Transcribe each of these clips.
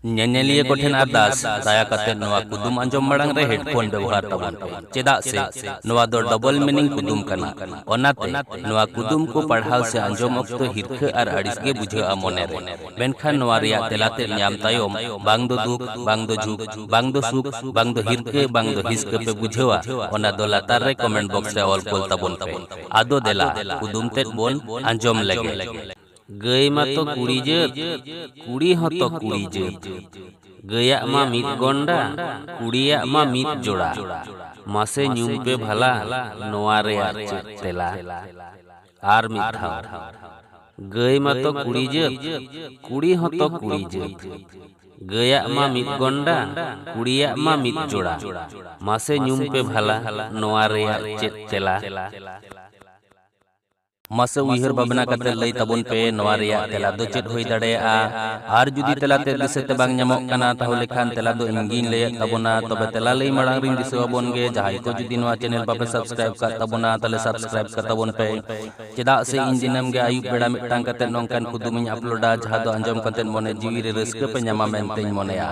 ᱧᱮᱧᱮᱞᱤᱭᱟᱹ ᱠᱚ ᱴᱷᱮᱱ ᱟᱨᱫᱟᱥ, ᱫᱟᱭᱟ ᱠᱟᱛᱮ ᱱᱚᱣᱟ ᱠᱩᱫᱩᱢ ᱟᱸᱡᱚᱢ ᱢᱟᱲᱟᱝ ᱨᱮ ᱦᱮᱰᱯᱷᱳᱱ ᱵᱮᱣᱦᱟᱨ ᱛᱟᱵᱚᱱ ᱯᱮ, ᱪᱮᱫᱟᱜ ᱥᱮ ᱱᱚᱣᱟ ᱫᱚ ᱰᱚᱵᱚᱞ ᱢᱤᱱᱤᱝ ᱠᱩᱫᱩᱢ ᱠᱟᱱᱟ᱾ ᱚᱱᱟᱛᱮ, ᱱᱚᱣᱟ ᱠᱩᱫᱩᱢ ᱠᱚ ᱯᱟᱲᱦᱟᱣ ᱥᱮ ᱟᱸᱡᱚᱢ ᱚᱠᱛᱚ ᱦᱤᱨᱠᱷᱟᱹ ᱟᱨ ᱟᱹᱲᱤᱥ ᱜᱮ ᱵᱩᱡᱷᱟᱹᱜᱼᱟ ᱢᱚᱱᱮ ᱨᱮ᱾ ᱢᱮᱱᱠᱷᱟᱱ ᱱᱚᱣᱟ ᱨᱮᱭᱟᱜ ᱛᱮᱞᱟ ᱛᱮᱫ ᱧᱟᱢ ᱛᱟᱭᱚᱢ ᱵᱟᱝ ᱫᱚ ᱫᱩᱠ, ᱵᱟᱝ ᱫᱚ ᱡᱷᱩᱠ, ᱵᱟᱝ ᱫᱚ ᱥᱩᱠ, ᱵᱟᱝ ᱫᱚ ᱦᱤᱨᱠᱟᱹ, ᱵᱟᱝ ᱫᱚ ᱦᱤᱥᱠᱟᱹ ᱯᱮ ᱵᱩᱡᱷᱟᱹᱣᱟ, ᱚᱱᱟ ᱫᱚ ᱞᱟᱛᱟᱨ ᱨᱮ ᱠᱚᱢᱮᱱᱴ ᱵᱚᱠᱥ ᱨᱮ ᱚᱞ ᱠᱩᱞ ᱛᱟᱵᱚᱱ ᱯᱮ᱾ ᱟᱫᱚ ᱫᱮᱞᱟ, ᱠᱩᱫᱩᱢ ᱛᱮᱫ ᱵᱚᱱ ᱟᱸᱡᱚᱢ ᱞᱮᱜᱮ᱾ ᱜᱟᱹᱭ ᱢᱟᱛᱚ ᱠᱩᱲᱤ ᱡᱟᱹᱛ, ᱠᱩᱲᱤ ᱦᱚᱸᱛᱚ ᱠᱩᱲᱤ ᱡᱟᱹᱛ᱾ ᱜᱟᱹᱭᱟᱜ ᱢᱟ ᱢᱤᱫ ᱜᱚᱱᱰᱟ, ᱠᱩᱲᱤᱭᱟᱜ ᱢᱟ ᱢᱤᱫ ᱡᱚᱲᱟ᱾ ᱢᱟᱥᱮ ᱧᱩᱢ ᱯᱮ ᱵᱷᱟᱞᱟ ᱱᱚᱣᱟ ᱨᱮᱭᱟᱜ ᱪᱮᱫ ᱛᱮᱞᱟ? ᱟᱨ ᱢᱤᱫ ᱫᱷᱟᱣ, ᱜᱟᱹᱭ ᱢᱟᱛᱚ ᱠᱩᱲᱤ ᱡᱟᱹᱛ, ᱠᱩᱲᱤ ᱦᱚᱸᱛᱚ ᱠᱩᱲᱤ ᱡᱟᱹᱛ᱾ ᱜᱟᱹᱭᱟᱜ ᱢᱟ ᱢᱤᱫ ᱜᱚᱱᱰᱟ, ᱠᱩᱲᱤᱭᱟᱜ ᱢᱟ ᱢᱤᱫ ᱡᱚᱲᱟ᱾ ᱢᱟᱥᱮ ᱧᱩᱢ ᱯᱮ ᱵᱷᱟᱞᱟ ᱱᱚᱣᱟ ᱨᱮᱭᱟᱜ ᱪᱮᱫ ᱛᱮᱞᱟ? ᱢᱟᱥᱮ ᱩᱭᱦᱟᱹᱨ ᱵᱷᱟᱵᱽᱱᱟ ᱠᱟᱛᱮ ᱞᱟᱹᱭ ᱛᱟᱵᱚᱱ ᱯᱮ ᱱᱚᱣᱟ ᱨᱮᱭᱟᱜ ᱛᱮᱞᱟ ᱫᱚ ᱪᱮᱫ ᱦᱩᱭ ᱫᱟᱲᱮᱭᱟᱜᱼᱟ ᱟᱨ ᱡᱩᱫᱤ ᱛᱮᱞᱟ ᱛᱮ ᱫᱤᱥᱟᱹ ᱛᱮ ᱵᱟᱝ ᱧᱟᱢᱚᱜ ᱠᱟᱱᱟ ᱛᱟᱦᱚᱞᱮ ᱠᱷᱟᱱ ᱛᱮᱞᱟ ᱫᱚ ᱤᱧ ᱜᱤᱧ ᱞᱟᱹᱭᱮᱫ ᱛᱟᱵᱚᱱᱟ ᱛᱚᱵᱮ ᱛᱮᱞᱟ ᱞᱟᱹᱭ ᱢᱟᱲᱟᱝ ᱨᱤᱧ ᱫᱤᱥᱟᱹ ᱟᱵᱚᱱ ᱜᱮ ᱡᱟᱦᱟᱸᱭ ᱠᱚ ᱡᱩᱫᱤ ᱱᱚᱣᱟ ᱪᱮᱱᱮᱞ ᱵᱟᱯᱮ ᱥᱟᱵᱥᱠᱨᱟᱭᱤᱵ ᱠᱟᱜ ᱛᱟᱵᱚᱱᱟ ᱛᱟᱦᱚᱞᱮ ᱥᱟᱵᱥᱠᱨᱟᱭᱤᱵ ᱠᱟᱜ ᱛᱟᱵᱚᱱ ᱯᱮ ᱪᱮᱫᱟᱜ ᱥᱮ ᱤᱧ ᱫᱤᱱᱟᱹᱢ ᱜᱮ ᱟᱹᱭᱩᱵ ᱵᱮᱲᱟ ᱢᱤᱫᱴᱟᱝ ᱠᱟᱛᱮ ᱱᱚᱝᱠᱟᱱ ᱠᱩᱫᱩᱢᱤᱧ ᱟᱯᱞᱳᱰᱟ ᱡᱟᱦᱟᱸ ᱫᱚ ᱟᱸᱡᱚᱢ ᱠᱟᱛᱮ ᱢᱚᱱᱮ ᱡᱤᱣᱤ ᱨᱮ ᱨᱟᱹᱥᱠᱟᱹ ᱯᱮ ᱧᱟᱢᱟ ᱢᱮᱱᱛᱮᱧ ᱢᱚᱱᱮᱭᱟ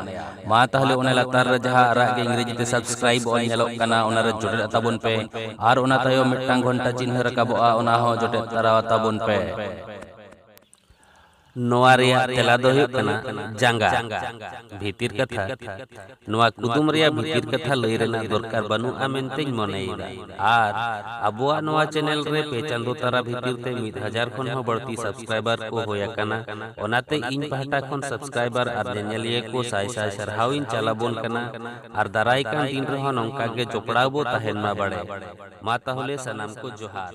ᱢᱟ ᱛᱟᱦᱚᱞᱮ ᱚᱱᱟ ᱞᱟᱛᱟᱨ ᱨᱮ ᱡᱟᱦᱟᱸ ᱟᱨᱟᱜ ᱜᱮ ᱤᱝᱨᱮᱡᱤ ᱛᱮ ᱥᱟᱵᱥᱠᱨᱟᱭᱤᱵ ᱚᱞ ᱧᱮᱞᱚᱜ ᱠᱟᱱᱟ ᱚᱱᱟ ᱨᱮ ᱡᱚᱴᱮᱫ ᱛᱟᱵᱚᱱ ᱯᱮ ᱟᱨ ᱚᱱᱟ ᱛᱟᱭᱚᱢ ᱢᱤᱫᱴᱟᱝ ᱜᱷᱚᱱᱴᱟ ᱪᱤᱱᱦᱟᱹ ᱨᱟᱠᱟᱵᱚᱜᱼᱟ ᱚᱱᱟ ᱦᱚᱸ ᱡᱚᱴᱮᱫ ᱛᱟᱨᱟ ᱛᱟᱵᱚᱱ ᱯᱮ ᱱᱚᱣᱟ ᱨᱮᱭᱟᱜ ᱛᱮᱞᱟ ᱫᱚ ᱦᱩᱭᱩᱜ ᱠᱟᱱᱟ ᱡᱟᱸᱜᱟ ᱵᱷᱤᱛᱤᱨ ᱠᱟᱛᱷᱟ ᱱᱚᱣᱟ ᱠᱩᱫᱩᱢ ᱨᱮᱭᱟᱜ ᱵᱷᱤᱛᱤᱨ ᱠᱟᱛᱷᱟ ᱞᱟᱹᱭ ᱨᱮᱱᱟᱜ ᱫᱚᱨᱠᱟᱨ ᱵᱟᱹᱱᱩᱜᱼᱟ ᱢᱮᱱᱛᱮᱧ ᱢᱚᱱᱮᱭᱮᱫᱟ ᱟᱨ ᱟᱵᱚᱣᱟᱜ ᱱᱚᱣᱟ ᱪᱮᱱᱮᱞ ᱨᱮ ᱯᱮ ᱪᱟᱸᱫᱚ ᱛᱟᱨᱟ ᱵᱷᱤᱛᱤᱨ ᱛᱮ ᱢᱤᱫ ᱦᱟᱡᱟᱨ ᱠᱷᱚᱱ ᱦᱚᱸ ᱵᱟᱹᱲᱛᱤ ᱥᱟᱵᱥᱠᱨᱟᱭᱵᱟᱨ ᱠᱚ ᱦᱳᱭ ᱟᱠᱟᱱᱟ ᱚᱱᱟᱛᱮ ᱤᱧ ᱯᱟᱦᱴᱟ ᱠᱷᱚᱱ ᱥᱟᱵᱥᱠᱨᱟᱭᱵᱟᱨ ᱟᱨ ᱧᱮᱧᱮᱞᱤᱭᱟᱹ ᱠᱚ ᱥᱟᱭ ᱥᱟᱭ ᱥᱟᱨᱦᱟᱣ ᱤᱧ ᱪᱟᱞ ᱟᱵᱚᱱ ᱠᱟᱱᱟ ᱟᱨ ᱫᱟᱨᱟᱭ ᱠᱟᱱ ᱫᱤᱱ ᱨᱮᱦᱚᱸ ᱱᱚᱝᱠᱟ ᱜᱮ ᱡᱚᱯᱲᱟᱣ ᱵᱚ ᱛᱟᱦᱮᱱ ᱢᱟ ᱵᱟᱲᱮ ᱢᱟ ᱛᱟᱦᱚᱞᱮ ᱥᱟᱱᱟᱢ ᱠᱚ ᱡᱚᱦᱟᱨ᱾